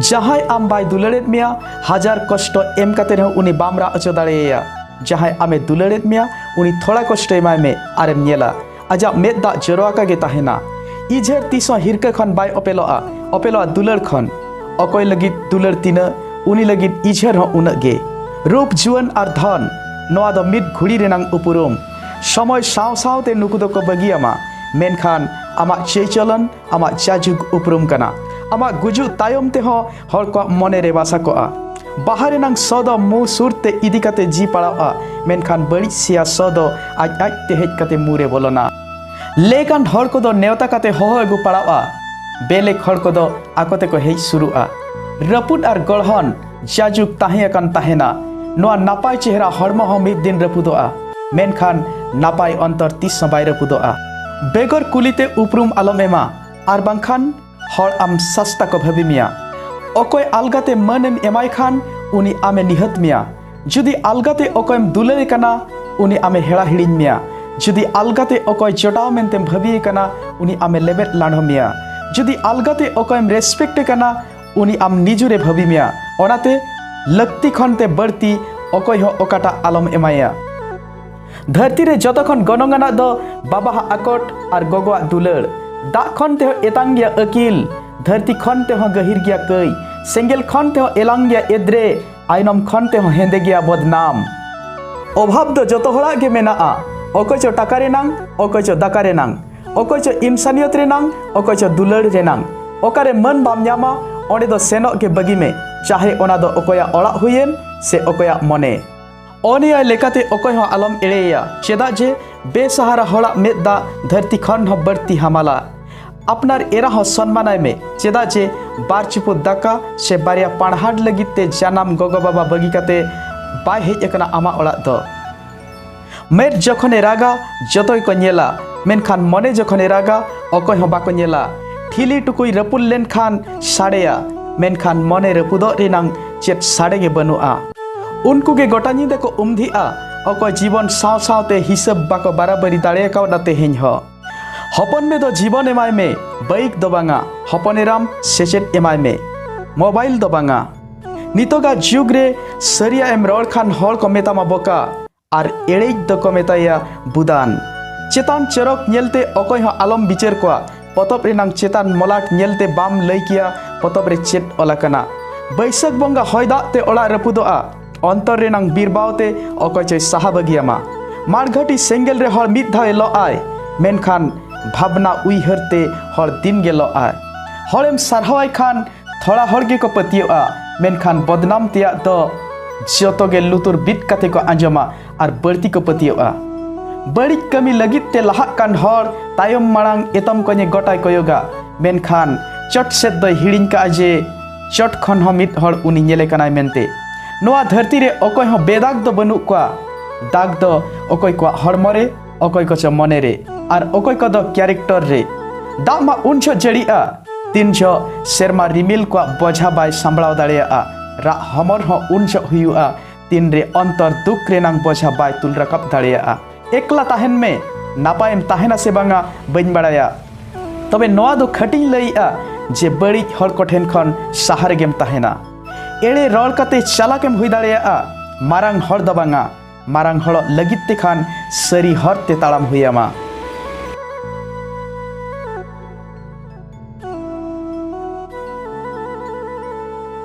ᱡᱟᱦᱟᱸᱭ ᱟᱢ ᱵᱟᱭ ᱫᱩᱞᱟᱹᱲᱮᱫ ᱢᱮᱭᱟ ᱦᱟᱡᱟᱨ ᱠᱚᱥᱴᱚ ᱮᱢ ᱠᱟᱛᱮ ᱨᱮᱦᱚᱸ ᱩᱱᱤ ᱵᱟᱢ ᱨᱟᱜ ᱦᱚᱪᱚ ᱫᱟᱲᱮᱭᱟᱭᱟ ᱡᱟᱦᱟᱸᱭ ᱟᱢᱮ ᱫᱩᱞᱟᱹᱲᱮᱫ ᱢᱮᱭᱟ ᱩᱱᱤ ᱛᱷᱚᱲᱟ ᱠᱚᱥᱴᱚ ᱮᱢᱟᱭ ᱢᱮ ᱟᱨᱮᱢ ᱧᱮᱞᱟ ᱟᱡᱟᱜ ᱢᱮᱫ ᱫᱟᱜ ᱡᱚᱨᱚ ᱟᱠᱟ ᱜᱮ ᱛᱟᱦᱮᱱᱟ ᱤᱡᱷᱮᱨ ᱛᱤᱥ ᱦᱚᱸ ᱦᱤᱨᱠᱟᱹ ᱠᱷᱚᱱ ᱵᱟᱭ ᱚᱯᱮᱞᱚᱜᱼᱟ ᱚᱯᱮᱞᱚᱜᱼᱟ ᱫᱩᱞᱟᱹᱲ ᱠᱷᱚᱱ ᱚᱠᱚᱭ ᱞᱟᱹᱜᱤᱫ ᱫᱩᱞᱟᱹᱲ ᱛᱤᱱᱟᱹᱜ ᱩᱱᱤ ᱞᱟᱹᱜᱤᱫ ᱤᱡᱷᱮᱨ ᱦᱚᱸ ᱩᱱᱟᱹᱜ ᱜᱮ ᱨᱩᱯ ᱡᱩᱣᱟᱹᱱ ᱟᱨ ᱫᱷᱚᱱ ᱱᱚᱣᱟ ᱫᱚ ᱢᱤᱫ ᱜᱷᱩᱲᱤ ᱨᱮᱱᱟᱝ ᱩᱯᱩᱨᱩᱢ ᱥᱚᱢᱚᱭ ᱥᱟᱶ ᱥᱟᱶᱛᱮ ᱱᱩᱠᱩ ᱫᱚᱠᱚ ᱵᱟᱹᱜᱤᱭᱟᱢᱟ ᱢᱮᱱᱠᱷᱟᱱ ᱟᱢᱟᱜ ᱪᱟᱹᱭᱪᱚᱞᱚᱱ ᱟᱢᱟᱜ ᱡᱟᱡᱩᱜᱽ ᱩᱯᱨᱩᱢ ᱠᱟᱱᱟ ᱟᱢᱟᱜ ᱜᱩᱡᱩᱜ ᱛᱟᱭᱚᱢ ᱛᱮᱦᱚᱸ ᱦᱚᱲ ᱠᱚᱣᱟᱜ ᱢᱚᱱᱮ ᱨᱮ ᱵᱟᱥᱟ ᱠᱚᱜᱼᱟ ᱵᱟᱦᱟ ᱨᱮᱱᱟᱝ ᱥᱚ ᱫᱚ ᱢᱩ ᱥᱩᱨ ᱛᱮ ᱤᱫᱤ ᱠᱟᱛᱮ ᱡᱤ ᱯᱟᱲᱟᱣᱜᱼᱟ ᱢᱮᱱᱠᱷᱟᱱ ᱵᱟᱹᱲᱤᱡ ᱥᱮᱭᱟ ᱥᱚ ᱫᱚ ᱟᱡ ᱟᱡ ᱛᱮ ᱦᱮᱡ ᱠᱟᱛᱮ ᱢᱩ ᱨᱮ ᱵᱚᱞᱚᱱᱟ ᱞᱮᱠᱟᱱ ᱦᱚᱲ ᱠᱚᱫᱚ ᱱᱮᱣᱛᱟ ᱠᱟᱛᱮ ᱦᱚᱦᱚ ᱟᱹᱜᱩ ᱯᱟᱲᱟᱣᱜᱼᱟ ᱵᱮᱞᱮᱠ ᱦᱚᱲ ᱠᱚᱫᱚ ᱟᱠᱚ ᱛᱮᱠᱚ ᱦᱮᱡ ᱥᱩᱨᱩᱜᱼᱟ ᱨᱟᱹᱯᱩᱫ ᱟᱨ ᱜᱚᱲᱦᱚᱱ ᱡᱟᱡᱩᱠ ᱛᱟᱦᱮᱸ ᱟᱠᱟᱱ ᱛᱟᱦᱮᱱᱟ ᱱᱚᱣᱟ ᱱᱟᱯᱟᱭ ᱪᱮᱦᱨᱟ ᱦᱚᱲᱢᱚ ᱦᱚᱸ ᱢᱤᱫ ᱫᱤᱱ ᱨᱟᱹᱯᱩᱫᱚᱜᱼᱟ ᱢᱮᱱᱠᱷᱟᱱ ᱱᱟᱯᱟᱭ ᱚᱱᱛᱚᱨ ᱛᱤᱥ ᱦᱚᱸ ᱵᱟᱭ ᱨᱟᱹᱯᱩᱫᱚᱜᱼᱟ ᱵᱮᱜᱚᱨ ᱠᱩᱞᱤᱛᱮ ᱩᱯᱨᱩᱢ ᱟᱞᱚᱢ ᱮᱢᱟ ᱟᱨ ᱵᱟᱝᱠᱷᱟᱱ ᱦᱚᱲ ᱟᱢ ᱥᱟᱥᱛᱟ ᱠᱚ ᱵᱷᱟᱹᱵᱤ ᱢᱮᱭᱟ ᱚᱠᱚᱭ ᱟᱞᱜᱟᱛᱮ ᱢᱟᱹᱱᱮᱢ ᱮᱢᱟᱭ ᱠᱷᱟᱱ ᱩᱱᱤ ᱟᱢᱮ ᱱᱤᱦᱟᱹᱛ ᱢᱮᱭᱟ ᱡᱩᱫᱤ ᱟᱞᱜᱟᱛᱮ ᱚᱠᱚᱭᱮᱢ ᱫᱩᱞᱟᱹᱲᱮ ᱠᱟᱱᱟ ᱩᱱᱤ ᱟᱢᱮ ᱦᱮᱲᱟ ᱦᱤᱲᱤᱧ ᱢᱮᱭᱟ ᱡᱩᱫᱤ ᱟᱞᱜᱟᱛᱮ ᱚᱠᱚᱭ ᱡᱚᱴᱟᱣ ᱢᱮᱱᱛᱮᱢ ᱵᱷᱟᱹᱵᱤᱭᱮ ᱠᱟᱱᱟ ᱩᱱᱤ ᱟᱢᱮ ᱞᱮᱵᱮᱫ ᱞᱟᱸᱰᱷᱚ ᱢᱮᱭᱟ ᱡᱩᱫᱤ ᱟᱞᱜᱟᱛᱮ ᱚᱠᱚᱭᱮᱢ ᱨᱮᱥᱯᱮᱠᱴᱮ ᱠᱟᱱᱟ ᱩᱱᱤ ᱟᱢ ᱱᱤᱡᱩᱨᱮ ᱵᱷᱟᱹᱵᱤ ᱢᱮᱭᱟ ᱚᱱᱟᱛᱮ ᱞᱟᱹᱠᱛᱤ ᱠᱷᱚᱱ ᱛᱮ ᱵᱟᱹᱲᱛᱤ ᱚᱠᱚᱭ ᱦᱚᱸ ᱚᱠᱟᱴᱟᱜ ᱟᱞᱚᱢ ᱮᱢᱟᱭᱟ ᱫᱷᱟᱹᱨᱛᱤ ᱨᱮ ᱡᱚᱛᱚ ᱠᱷᱚᱱ ᱜᱚᱱᱚᱝ ᱟᱱᱟᱜ ᱫᱚ ᱵᱟᱵᱟᱦᱟᱜ ᱟᱠᱚᱴ ᱟᱨ ᱜᱚᱜᱚᱣᱟᱜ ᱫᱩᱞᱟᱹᱲ ᱫᱟᱜ ᱠᱷᱚᱱ ᱛᱮᱦᱚᱸ ᱮᱛᱟᱝ ᱜᱮᱭᱟ ᱟᱹᱠᱤᱞ ᱫᱷᱟᱹᱨᱛᱤ ᱠᱷᱚᱱ ᱛᱮᱦᱚᱸ ᱜᱟᱹᱦᱤᱨ ᱜᱮᱭᱟ ᱠᱟᱹᱭ ᱥᱮᱸᱜᱮᱞ ᱠᱷᱚᱱ ᱛᱮᱦᱚᱸ ᱮᱞᱟᱝ ᱜᱮᱭᱟ ᱮᱫᱽᱨᱮ ᱟᱭᱱᱚᱢ ᱠᱷᱚᱱ ᱛᱮᱦᱚᱸ ᱦᱮᱸᱫᱮ ᱜᱮᱭᱟ ᱵᱚᱫᱱᱟᱢ ᱚᱵᱷᱟᱵ ᱫᱚ ᱡᱚᱛᱚ ᱦᱚᱲᱟᱜ ᱜᱮ ᱢᱮᱱᱟᱜᱼᱟ ᱚᱠᱚᱭ ᱪᱚ ᱴᱟᱠᱟ ᱨᱮᱱᱟᱝ ᱚᱠᱚᱭ ᱪᱚ ᱫᱟᱠᱟ ᱨᱮᱱᱟᱝ ᱚᱠᱚᱭ ᱪᱚ ᱤᱱᱥᱟᱱᱤᱭᱚᱛ ᱨᱮᱱᱟᱝ ᱚᱠᱚᱭ ᱪᱚ ᱫᱩᱞᱟᱹᱲ ᱨᱮᱱᱟᱝ ᱚᱠᱟᱨᱮ ᱢᱟᱹᱱ ᱵᱟᱢ ᱧᱟᱢᱟ ᱚᱸᱰᱮ ᱫᱚ ᱥᱮᱱᱚᱜ ᱜᱮ ᱵᱟᱹᱜᱤ ᱢᱮ ᱪᱟᱦᱮ ᱚᱱᱟ ᱫᱚ ᱚᱠᱚᱭᱟᱜ ᱚᱲᱟᱜ ᱦᱩᱭᱮᱱ ᱥᱮ ᱚᱠᱚᱭᱟᱜ ᱢᱚᱱᱮ ᱚᱱᱤᱭᱟᱭ ᱞᱮᱠᱟᱛᱮ ᱚᱠᱚᱭ ᱦᱚᱸ ᱟᱞᱚᱢ ᱮᱲᱮᱭᱟ ᱪᱮᱫᱟᱜ ᱡᱮ ᱵᱮᱥᱟᱦᱟᱨᱟ ᱦᱚᱲᱟᱜ ᱢᱮᱫ ᱫᱟᱜ ᱫᱷᱟᱹᱨᱛᱤ ᱠᱷᱚᱱ ᱦᱚᱸ ᱵᱟᱹᱲᱛᱤ ᱦᱟᱢᱟᱞᱟ ᱟᱯᱱᱟᱨ ᱮᱨᱟ ᱦᱚᱸ ᱥᱚᱱᱢᱟᱱᱟᱭ ᱢᱮ ᱪᱮᱫᱟᱜ ᱡᱮ ᱵᱟᱨ ᱪᱤᱯᱩ ᱫᱟᱠᱟ ᱥᱮ ᱵᱟᱨᱭᱟ ᱯᱟᱲᱦᱟᱴ ᱞᱟᱹᱜᱤᱫ ᱛᱮ ᱡᱟᱱᱟᱢ ᱜᱚᱜᱚ ᱵᱟᱵᱟ ᱵᱟᱹᱜᱤ ᱠᱟᱛᱮ ᱵᱟᱭ ᱦᱮᱡ ᱟᱠᱟᱱᱟ ᱟᱢᱟᱜ ᱚᱲᱟᱜ ᱫᱚ ᱢᱮᱫ ᱡᱚᱠᱷᱚᱱᱮ ᱨᱟᱜᱟ ᱡᱚᱛᱚ ᱜᱮᱠᱚ ᱧᱮᱞᱟ ᱢᱮᱱᱠᱷᱟᱱ ᱢᱚᱱᱮ ᱡᱚᱠᱷᱚᱱᱮ ᱨᱟᱜᱟ ᱚᱠᱚᱭ ᱦᱚᱸ ᱵᱟᱠᱚ ᱧᱮᱞᱟ ᱴᱷᱤᱞᱤ ᱴᱩᱠᱩᱭ ᱨᱟᱹᱯᱩᱫ ᱞᱮᱱᱠᱷᱟᱱ ᱥᱟᱰᱮᱭᱟ ᱢᱮᱱᱠᱷᱟᱱ ᱢᱚᱱᱮ ᱨᱟᱹᱯᱩᱫᱚᱜ ᱨᱮᱱᱟᱝ ᱪᱮᱫ ᱥᱟᱰᱮ ᱜᱮ ᱵᱟᱹᱱᱩᱜᱼᱟ ᱩᱱᱠᱩ ᱜᱮ ᱜᱚᱴᱟ ᱧᱤᱫᱟᱹ ᱠᱚ ᱩᱢᱫᱷᱤᱜᱼᱟ ᱚᱠᱚᱭ ᱡᱤᱵᱚᱱ ᱥᱟᱶ ᱥᱟᱶᱛᱮ ᱦᱤᱥᱟᱹᱵ ᱵᱟᱠᱚ ᱵᱟᱨᱟᱵᱟᱹᱨᱤ ᱫᱟᱲᱮ ᱠᱟᱣᱫᱟ ᱛᱮᱦᱮᱧ ᱦᱚᱸ ᱦᱚᱯᱚᱱ ᱢᱮ ᱫᱚ ᱡᱤᱵᱚᱱ ᱮᱢᱟᱭ ᱢᱮ ᱵᱟᱭᱤᱠ ᱫᱚ ᱵᱟᱝᱟ ᱦᱚᱯᱚᱱ ᱮᱨᱟᱢ ᱥᱮᱪᱮᱫ ᱮᱢᱟᱭ ᱢᱮ ᱢᱳᱵᱟᱭᱤᱞ ᱫᱚ ᱵᱟᱝᱟ ᱱᱤᱛᱚᱜᱟᱜ ᱡᱩᱜᱽ ᱨᱮ ᱥᱟᱹᱨᱤᱭᱟᱜ ᱮᱢ ᱨᱚᱲ ᱠᱷᱟᱱ ᱦᱚᱲ ᱠᱚ ᱢᱮᱛᱟᱢᱟ ᱵᱚᱠᱟ ᱟᱨ ᱮᱲᱮᱡ ᱫᱚᱠᱚ ᱢᱮᱛᱟᱭᱟ ᱵᱩᱫᱟᱱ ᱪᱮᱛᱟᱱ ᱪᱚᱨᱚᱠ ᱧᱮᱞᱛᱮ ᱚᱠᱚᱭ ᱦᱚᱸ ᱟᱞᱚᱢ ᱵᱤᱪᱟᱹᱨ ᱠᱚᱣᱟ ᱯᱚᱛᱚᱵ ᱨᱮᱱᱟᱝ ᱪᱮᱛᱟᱱ ᱢᱚᱞᱟᱴ ᱧᱮᱞᱛᱮ ᱵᱟᱢ ᱞᱟᱹᱭ ᱠᱮᱭᱟ ᱯᱚᱛᱚᱵ ᱨᱮ ᱪᱮᱫ ᱚᱞ ᱟᱠᱟᱱᱟ ᱵᱟᱹᱭᱥᱟᱹᱠᱷ ᱵᱚᱸᱜᱟ ᱦᱚᱭ ᱫᱟᱜ ᱛᱮ ᱚᱲᱟᱜ ᱨᱟᱹᱯᱩᱫᱚᱜᱼᱟ ᱚᱱᱛᱚᱨ ᱨᱮᱱᱟᱝ ᱵᱤᱨᱵᱟᱣ ᱛᱮ ᱚᱠᱚᱭ ᱪᱚᱭ ᱥᱟᱦᱟ ᱵᱟᱹᱜᱤᱭᱟᱢᱟ ᱢᱟᱲᱜᱷᱟᱹᱴᱤ ᱥᱮᱸᱜᱮᱞ ᱨᱮ ᱦᱚᱲ ᱢᱤᱫ ᱫᱷᱟᱣ ᱮ ᱞᱚᱜ ᱟᱭ ᱢᱮᱱᱠᱷᱟᱱ ᱵᱷᱟᱵᱽᱱᱟ ᱩᱭᱦᱟᱹᱨ ᱛᱮ ᱦᱚᱲ ᱫᱤᱱ ᱜᱮ ᱞᱚᱜ ᱟᱭ ᱦᱚᱲᱮᱢ ᱥᱟᱨᱦᱟᱣᱟᱭ ᱠᱷᱟᱱ ᱛᱷᱚᱲᱟ ᱦᱚᱲ ᱜᱮᱠᱚ ᱯᱟᱹᱛᱭᱟᱹᱜᱼᱟ ᱢᱮᱱᱠᱷᱟᱱ ᱵᱚᱫᱱᱟᱢ ᱛᱮᱭᱟᱜ ᱫᱚ ᱡᱚᱛᱚ ᱜᱮ ᱞᱩᱛᱩᱨ ᱵᱤᱫ ᱠᱟᱛᱮ ᱠᱚ ᱟᱸᱡᱚᱢᱟ ᱟᱨ ᱵᱟᱹᱲᱛᱤ ᱠᱚ ᱯᱟᱹᱛᱭᱟᱹᱜᱼᱟ ᱵᱟᱹᱲᱤᱡ ᱠᱟᱹᱢᱤ ᱞᱟᱹᱜᱤᱫ ᱛᱮ ᱞᱟᱦᱟᱜ ᱠᱟᱱ ᱦᱚᱲ ᱛᱟᱭᱚᱢ ᱢᱟᱲᱟᱝ ᱮᱛᱚᱢ ᱠᱚᱧᱮ ᱜᱚᱴᱟᱭ ᱠᱚᱭᱚᱜᱟ ᱢᱮᱱᱠᱷᱟᱱ ᱪᱚᱴ ᱥᱮᱫ ᱫᱚᱭ ᱦᱤᱲᱤᱧ ᱠᱟᱜᱼᱟ ᱡᱮ ᱪᱚᱴ ᱠᱷᱚᱱ ᱦᱚᱸ ᱢᱤᱫ ᱦᱚᱲ ᱩᱱᱤ ᱧᱮᱞᱮ ᱠᱟᱱᱟᱭ ᱢᱮᱱᱛᱮ ᱱᱚᱣᱟ ᱫᱷᱟᱹᱨᱛᱤ ᱨᱮ ᱚᱠᱚᱭ ᱦᱚᱸ ᱵᱮᱫᱟᱜᱽ ᱫᱚ ᱵᱟᱹᱱᱩᱜ ᱠᱚᱣᱟ ᱫᱟᱜᱽ ᱫᱚ ᱚᱠᱚᱭ ᱠᱚᱣᱟᱜ ᱦᱚᱲᱢᱚ ᱨᱮ ᱚᱠᱚᱭ ᱠᱚᱪᱚ ᱢᱚᱱᱮ ᱨᱮ ᱟᱨ ᱚᱠᱚᱭ ᱠᱚᱫᱚ ᱠᱮᱨᱮᱠᱴᱚᱨ ᱨᱮ ᱫᱟᱜ ᱢᱟ ᱩᱱ ᱡᱷᱚᱜ ᱡᱟᱹᱲᱤᱜᱼᱟ ᱛᱤᱱ ᱡᱷᱚᱜ ᱥᱮᱨᱢᱟ ᱨᱤᱢᱤᱞ ᱠᱚᱣᱟᱜ ᱵᱚᱡᱷᱟ ᱵᱟᱭ ᱥᱟᱢᱵᱲᱟᱣ ᱫᱟᱲᱮᱭᱟᱜᱼᱟ ᱨᱟᱜ ᱦᱚᱢᱚᱨ ᱦᱚᱸ ᱩᱱ ᱡᱷᱚᱜ ᱦᱩᱭᱩᱜᱼᱟ ᱛᱤᱱ ᱨᱮ ᱚᱱᱛᱚᱨ ᱫᱩᱠ ᱨᱮᱱᱟᱝ ᱵᱚᱡᱷᱟ ᱵᱟᱭ ᱛᱩᱞ ᱨᱟᱠᱟᱵ ᱫᱟᱲᱮᱭᱟᱜᱼᱟ ᱮᱠᱞᱟ ᱛᱟᱦᱮᱱ ᱢᱮ ᱱᱟᱯᱟᱭᱮᱢ ᱛᱟᱦᱮᱱᱟ ᱥᱮ ᱵᱟᱝᱟ ᱵᱟᱹᱧ ᱵᱟᱲᱟᱭᱟ ᱛᱚᱵᱮ ᱱᱚᱣᱟ ᱫᱚ ᱠᱷᱟᱹᱴᱤᱧ ᱞᱟᱹᱭᱮᱜᱼᱟ ᱡᱮ ᱵᱟᱹᱲᱤᱡ ᱦᱚᱲ ᱠᱚ ᱴᱷᱮᱱ ᱠᱷᱚᱱ ᱥᱟᱦᱟ ᱨᱮᱜᱮᱢ ᱛᱟᱦᱮᱱᱟ ᱮᱲᱮ ᱨᱚᱲ ᱠᱟᱛᱮ ᱪᱟᱞᱟᱠᱮᱢ ᱦᱩᱭ ᱫᱟᱲᱮᱭᱟᱜᱼᱟ ᱢᱟᱨᱟᱝ ᱦᱚᱲ ᱫᱚ ᱵᱟᱝᱟ ᱢᱟᱨᱟᱝ ᱦᱚᱲ ᱞᱟᱹᱜᱤᱫ ᱛᱮᱠᱷᱟᱱ ᱥᱟᱹᱨᱤ ᱦᱚᱨ ᱛᱮ ᱛᱟᱲᱟᱢ ᱦᱩᱭ ᱟᱢᱟ